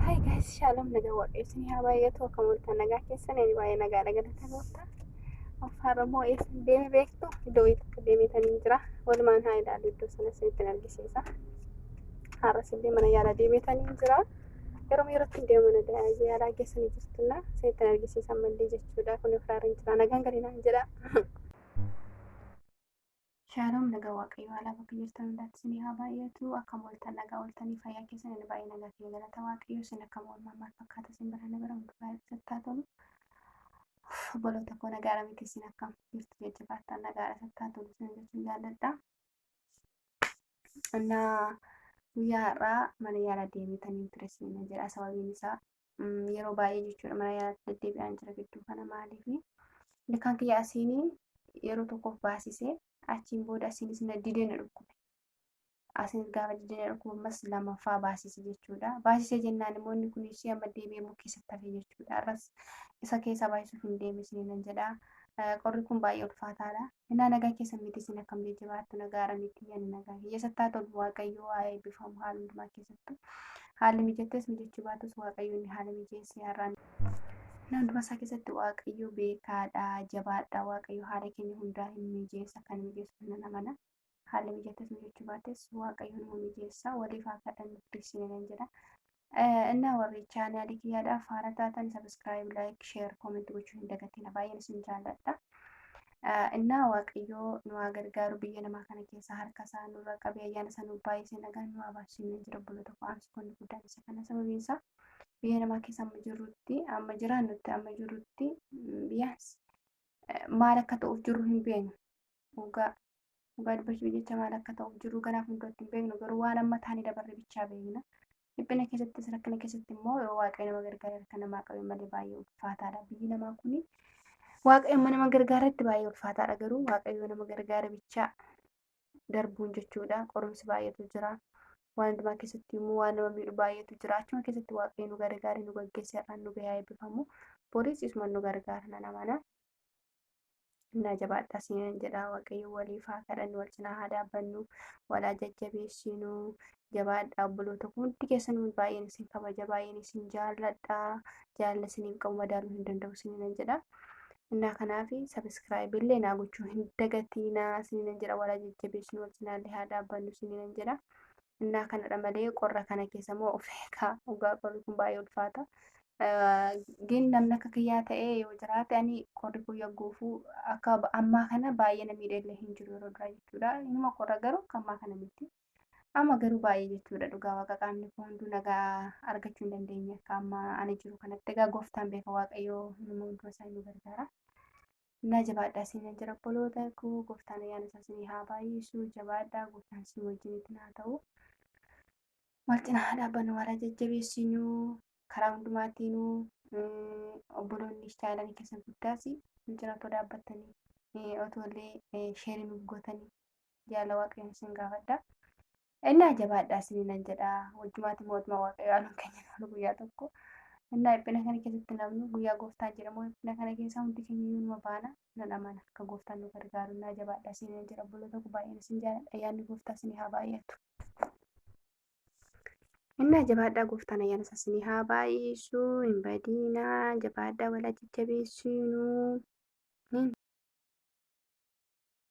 Hi guys, shalom nagaa waaqayyo isin haa baay'atu akka mul'atan nagaa keessan ani baay'ee nagaa nagaa nagaa gooftaa. Afaan Oromoo eessa deeme beektu iddoo wayii takka deemeetan hin jira. Walumaan haa ilaalu iddoo sana isinitti hin argisiisa. Har'as illee mana yaalaa deemeetan hin jira. Yeroo yerootti hin deemu mana da- yaalaa geessanii jirtunna isinitti hin argisiisa ammallee jechuudha. Kun ofirraa hin jira. Nagaan galinaan jedha. Shaalom nagaa waaqayyo haala bakka jirtan hundaatti isin haa baay'atu akkam ooltan nagaa ooltanii fayyaa keessan inni baay'ee nagaa kiyya galata waaqayyo isin akkam oolmaa maal fakkaata isin bira nagara hundi baay'ee sattaa tolu obboloota koo nagaara miti isin akkam jirtu jajjabaattan nagaara sattaa tolu isin jechuun jaalladha. Innaa guyyaa har'aa mana yaalaa deemetaniin ture isin jedha sababiin isaa yeroo baay'ee jechuudha mana yaalaatti deddeebi'aan jira gidduu kana maaliif ilkaan kiyya asiin yeroo tokkoof baasisee achiin booda asiinis na didee na dhukkube. Asiin gaafa didee na dhukkube ammas lamaffaa baasise jechuudha. Baasisee jennaan immoo inni kun ishee amma deebi'ee immoo keessatti hafe jechuudha. Arras isa keessaa baay'isuuf hin deebisne nan jedha. Qorri kun baay'ee ulfaataadha. Innaa nagaa keessan miti isin akkam jajjabaattu nagaara miti ani nagaa keessatti haa tolu waaqayyo haa eebbifamu haala hundumaa keessattu haalli mijattes mijachuu baatus waaqayyoonni haala mijeessee har'aan inni hundumaa isaa keessatti waaqayyo beekaadha jabaadha waaqayyo haala keenya hundaa hin mijeessa kan mijeessu nan amana haalli mijatas mijachuu baates waaqayyo numa mijeessa waliif haa kadhannu piliisii nan jedha. Innaa warri chaanaalii kiyyaadhaaf haara taatan sabiskiraayib laayik sheer kooment gochuu hin dagatina baay'een isin jaalladha. Innaa waaqayyoo nu haa gargaaru biyya namaa kana keessa harka isaa nurra qabee ayyaana isaa nuuf baay'isee nagaan nu haa baasu hin jira bula tokko aansi kun guddaan isa kana sababiin isaa biyya namaa keessa amma jirrutti amma jiraannutti amma jirrutti biyyaas maal akka ta'uuf jirru hin beeknu. dhugaa dhugaa dubbachuuf jecha maal akka ta'uuf jiru ganaa fuulduratti hin beeknu garuu waan amma taanii dabarre bichaa beekna. Dhiphina keessattis rakkina keessatti immoo yoo waaqayyo nama gargaaree harka namaa qabe malee baay'ee ulfaataadha. Biyyi namaa kuni waaqayyo amma nama gargaaretti baay'ee ulfaataadha garuu waaqayyo nama gargaare bichaa darbuun jechuudha. Qorumsi baay'eetu jira. Waan hundumaa keessatti immoo waan nama miidhu baay'eetu jira. Achuma keessatti waaqayyo nu gargaare nu gaggeesseerraan nu gahaa eebbifamu. Boris isuma nu gargaara nan amana. Innaa jabaadhaa sinan jedhaa waaqayyo waliif haa kadhannu wal cinaa haa dhaabbannu wal haa jajjabeessinu jabaadhaa obboloota koo hundi keessanuu baay'een isin kabaja baay'een isin jaalladha jaalala isiniin qabu madaaluu hin danda'u isininan jedha. Innaa kanaaf sabiskiraayib illee naa gochuu hin dagatiinaa isininan jedha wal haa jajjabeessinu wal cinaallee haa dhaabbannu isininan jedha. innaa kanadha malee qorra kana keessa moo of eegaa dhugaa qorri kun baay'ee ulfaata. Gin namni akka kiyyaa ta'ee yoo jiraate ani qorri kun yagguufuu akka ammaa kana baay'ee na miidheellee hin jiru yeroo duraa jechuudha. Inuma qorra garuu akka ammaa kana miti. Amma garuu baay'ee jechuudha dhugaa waaqa qaamni koo hunduu nagaa argachuu hin dandeenye akka amma ani jiru kanatti egaa gooftaan beeka waaqayyoo nama hundumaa isaa nu gargaara. Naa jabaadhaa isiin jira obboloota koo gooftaan ayyaana isaa isinii haa baay'isu jabaadhaa gooftaan isin wajjin itti naa ta'u wal cinaa haa dhaabbannu wal haa jajjabeessinu karaa hundumaatiinu obboloonni istaayilanii keessan guddaas nu cina otoo dhaabbattanii otoo illee sheerii nuuf gootanii jaalala waaqayyoon isin gaafadha Innaa jabaadhaa isiniinan jedha. Wajjumaatti mootummaa Waaqayyoo aanuun keenya ta'u guyyaa tokko. Innaa dhiphina kana keessatti namni guyyaa gooftaan jedhamu dhiphina kana keessaa hundi keenya iyyuu numa baana nan amana. Akka gooftaan nu gargaaru innaa jabaadhaa isiniinan jedha. Obboloota koo baay'een isin jaaladha. Ayyaanni gooftaa isinii haa baay'atu. Innaa jabaadhaa gooftaan ayyaana isaa isinii haa baay'isu. Hin badiinaa. Jabaadhaa walaa jajjabeessiinuu.